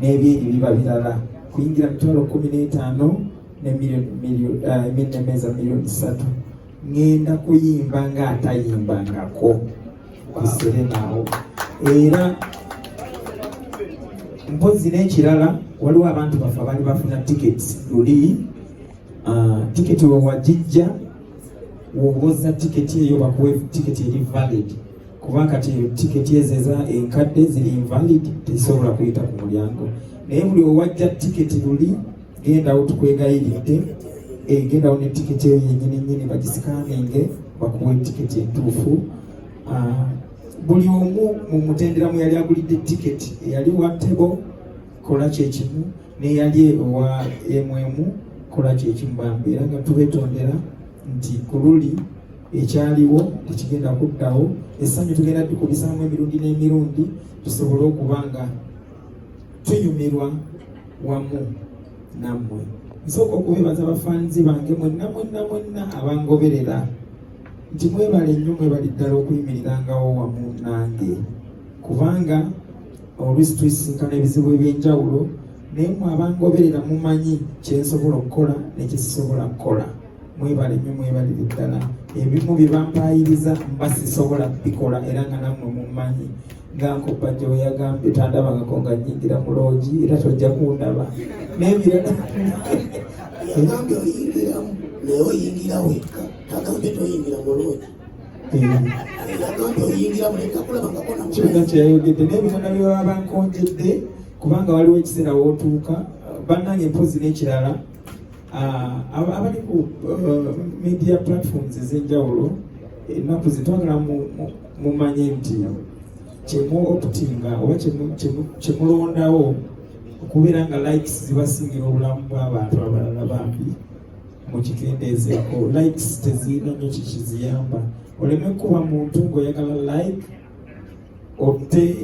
n'ebintu biba birala kuyingira mitwalo kumi n'etaano ne meza eh, miliyoni satu ngenda kuyimba nga atayimbangako kuserenaawo era mpozi n'ekirala waliwo abantu baffe abali bafuna tiketi luli ah, tiketi wewagijja wowoza tiketi eyo bakuwe tiketi eri valid kuba kati tiketi ezo eza enkadde ziri invalid tezisobola kuyita ku mulyango naye buli owajja tiketi luli gendawo tukwegayiridde egendawo eh, ne tiketi eyo yenyini nyini bagisikaninge bakuwe tiketi entuufu ah, buli omu mu mutenderamu yali agulidde tiketi eyali wa tebo kola kyekimu neyali owa emwemu kola kyekimbamba era nga tubetondera nti kululi ekyaliwo tekigenda kuddawo essanyu tugenda tukubisaamu emirundi n'emirundi tusobole okuba nga tunyumirwa wamu nammwe nsooka okubebaza bafaanizi bange mwenna mwenna mwenna abangoberera nti mwebale nnyo mwebali ddala okuyimirirangawo wamu nange kubanga oluusi tuisinkana ebizibu eby'enjawulo naye mwe abangoberera mumanyi kyensobola okukola nekisisobola kukola mwebale nyo mwebalire ddala ebimu byebampayiriza mba sisobola bikola era nga namwe mumanyi ngankoppa gyeweyagambye tandabangako nga nyingira mu loogi era tojja kundaba nebirala agambye oyingiramu naye oyingira wekka agambye toyingira mu loogi kibuga kyeyayogedde n'ebitanda bye baba bankonjedde kubanga waliwo ekiseera wootuuka bannange mpozi n'ekirala ah, abali ku eh, media platforms ez'enjawulo ennaku zitwagala mumanye nti kyemu okutinga oba kyemulondawo okubeera nga likes zibasingira obulamu bw'abantu abalala bambi mukikendeezeeko likes tezirina nyo kikiziyamba oleme kuba muntu ngaoyagala like otte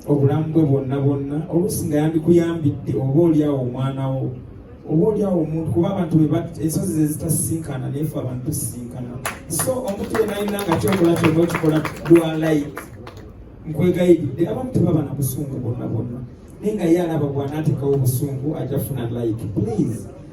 obulamu bwe bwonna bwonna oluusi nga yandikuyambidde oba olyawo omwana wo oba olyawo omuntu kuba abantu ensozi zezitasisinkana nayefe abantu tusisinkana so omuntu yena alina nga kyokola kyona okikola dwa like nkwegayiridde abamu tebaba na busungu bwonna bwonna naye nga ye alaba bwanaatekawo obusungu ajafuna like please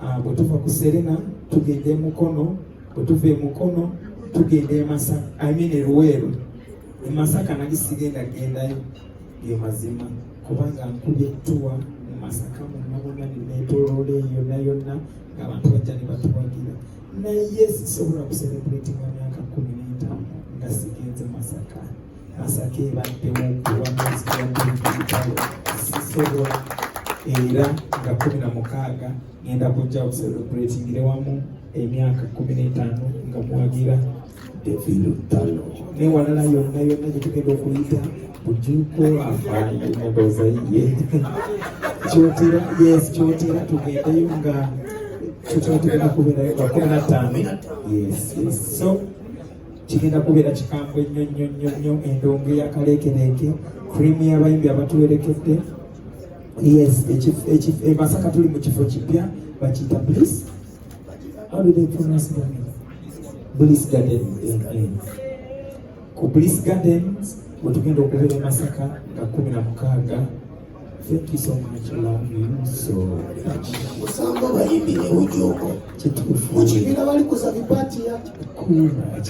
Ah, bwe tuva ku serena tugenda emukono bwe tuva emukono tugenda emasaka i mean eruweeru emasaka nali sigenda gendayo ge mazima kubanga nkubye tuwa mu masaka munabona nenetolola eyo yonna yonna ngaabantu bajja ne batuwagira naye sisobola kuserebratinga myaka kumi n'etaano nga sigenze masaka masaka ebaddemu okuwa mwezi gwa bbiri sisobola era nga kumi na mukaaga ngenda kujja okuselebratingire wamu emyaka kumi n'etaano nga muwagira evirutano newalala yonna yonna gyetugenda okuyita bujuko afaayo emboza ye kyotera yes kyotera tugendeyo nga kyotera tugenda kubeerayo nga kumi na ttaano yes yes so kigenda kubeera kikambwe nnyo nnyo nnyo nnyo endongo eyakaleekereeke krimu y'abayimbi abatuwerekedde yes e masaka tuli mu kifo kipya bakiyita bliss bliss garden ku bliss gardens wetugenda okubeera e masaka nga kumi na mukaaga Thank you so much. Love you so much. Usamba bayimbi ne ujoko. Chitufu. Muchibira bali kusabi party ya. Cool.